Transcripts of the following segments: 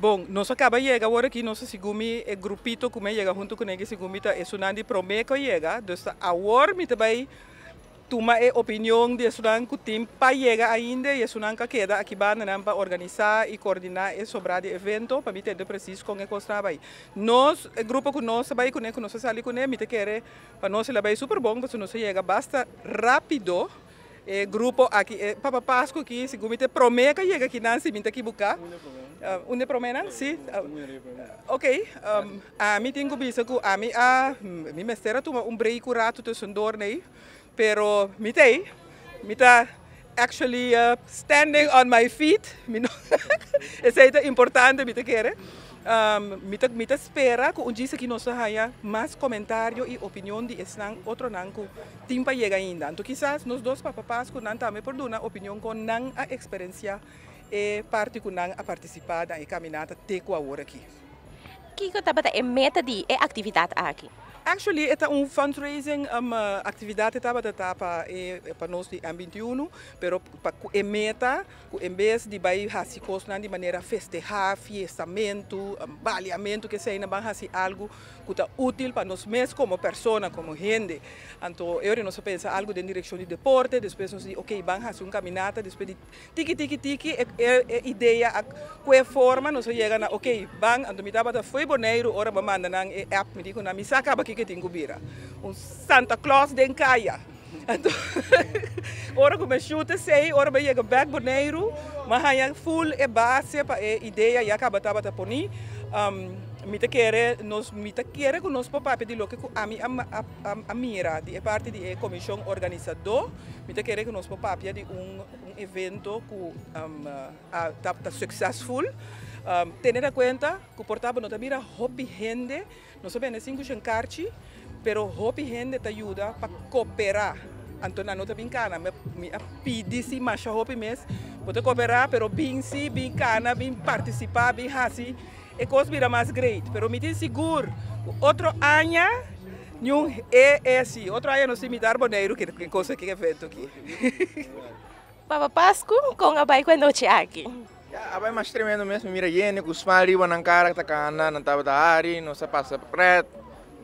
Bon, nos a caba yega awor aki, nos a sigumi e grupito cu mi a yega hunto cu negi sigumi ta esunnan di prome cu a yega, dus ta awor mi ta bay tuma e opinion di esunnan cu tin pa yega ainda y esunnan cu a keda aki bandanan pa organisa y coordina e sobra di evento pa mi tende precies con e cosnan a bay. Nos, e grupo cu nos ta bay cune, cu nos ta sali cune, mi ta kere pa nos e la bay super bon pasobra nos a yega basta rapido. E grupo aki e Papa Pascu ki, segun mi ta e prome ka yega aki nan si mi ta kibuka. Un de prome. Un de promenan? Si. Ok, ami tin ku bisa ku ami a mi mester a tuma un breiki un ratu tusundur nei, pero mi ta ei, mi ta actually standing on my feet, mi no esei ta importante mi ta kere. Mi ta mi ta spera ku un djis aki nos ta haña mas komentario i opinion di esnan, otronan ku Tin pa yega ainda. Anto kisas nos dos papa Pascu nan tambe por duna opinion con nan a experencia e parti cu nan a participa dan e caminata te cu awor aki. Kico tabata e meta di e actividad aki? Actually e ta un fundraising actividad e tabata ta pa e pa nos di M21 pero pa cu e meta cu en bes di bay haci cosnan di manera festeha, fiestamentu, baliamentu, que eseynan ban haci algo ku ta útil pa nos mes komo persona, komo hende. Anto e ora nos a pensa algu den direkshon di deporte, despues nos di oke ban hasi un kaminata, despues di tiki tiki tiki e idea a kue forma, nos a yega na oke ban anto mi tabata fo'i Boneiru ora bo manda nan e app mi di ku nan mi sa kaba kiko tin ku bira un Santa Claus den kaya. Anto ora ku mi a shut esei, ora mi a yega bek Boneiru, mi a haña ful e base pa e idea ya ku mi tabata poni. Mi ta kere, mi ta kere ku nos por papia di loke ku ami a mira di e parti di e komishon organisadó. Mi ta kere ku nos por papia di un evento ku ta suksesful. Tene na kuenta ku por tabata no ta mira hopi hende. Nos a bende sin kushen karchi, pero hopi hende ta yuda pa koperá. Anto nan no ta bin kana, mi a pidi si masha hopi mes, bo ta koperá, pero bin si, bin kana, bin partisipá, bin hasi e kos bira mas greit. Pero mi tin sigur ku otro aña niun e e así, otro aña nos ta invitá Boneiru, ke kos aki, ke evento aki. Papa Pascu, con a bai cu e nochi aki? Ya a bai mas tremendo mes, mi mira yende cu smal riba nan cara ta cana, nan tabata hari, nos a pasa pret,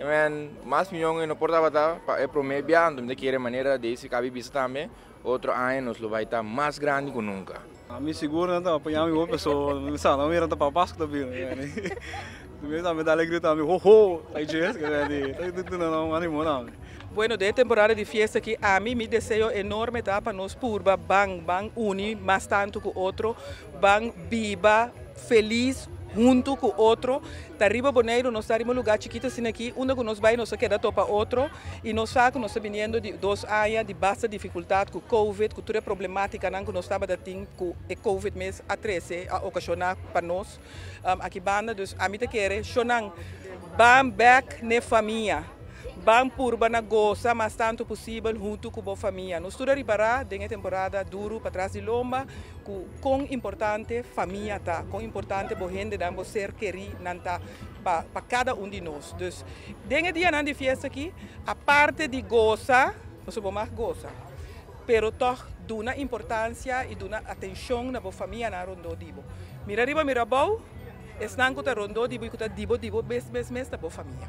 amen, mas miyon y no por tabata pa e prome bia, anto mi ta kere manera di si cabi bisa tambe, otro aña nos lo bai ta mas grandi cu nunca. Mi sigur nan ta paña mi bo, pasobra mi sa, nan mira ta Papa Pascu ta bini. Mes ami ta alegria tambe ho ho ta ichi es keda di ta dunannan un animo tambe. Bueno den e temporada di fiesta aki ami mi deseo enorme ta pa nos purba ban ban uni mas tanto cu otro ban biba feliz hunto cu otro ta riba Boneiru nos ta riba un lugar chikito asina aki unda cu nos bay nos a keda topa otro y nos sa cu nos ta biniendo di dos aña di basta dificultad cu covid cu tur e problematicanan cu nos tabata tin cu e covid mes a trece a ocasiona pa nos. Aki banda dus ami ta kere shonan ban bek n'e famia, ban purba na gosa mas tantu posibel huntu ku bo famia. Nos tur a ripará den e temporada duru patras di lomba ku kon importante famia ta, kon importante bo hendenan, bo ser kerí nan ta pa pa kada un di nos. Dus den e dianan di fiesta aki aparte di gosa, pasobra bo mag gosa, Pero tòg, duna importansia i duna atenshon na bo famianan rondó di bo. Mira riba, mira abou, esnan ku ta rondó di bo i ku ta di bo di bo mes mes mes ta bo famia.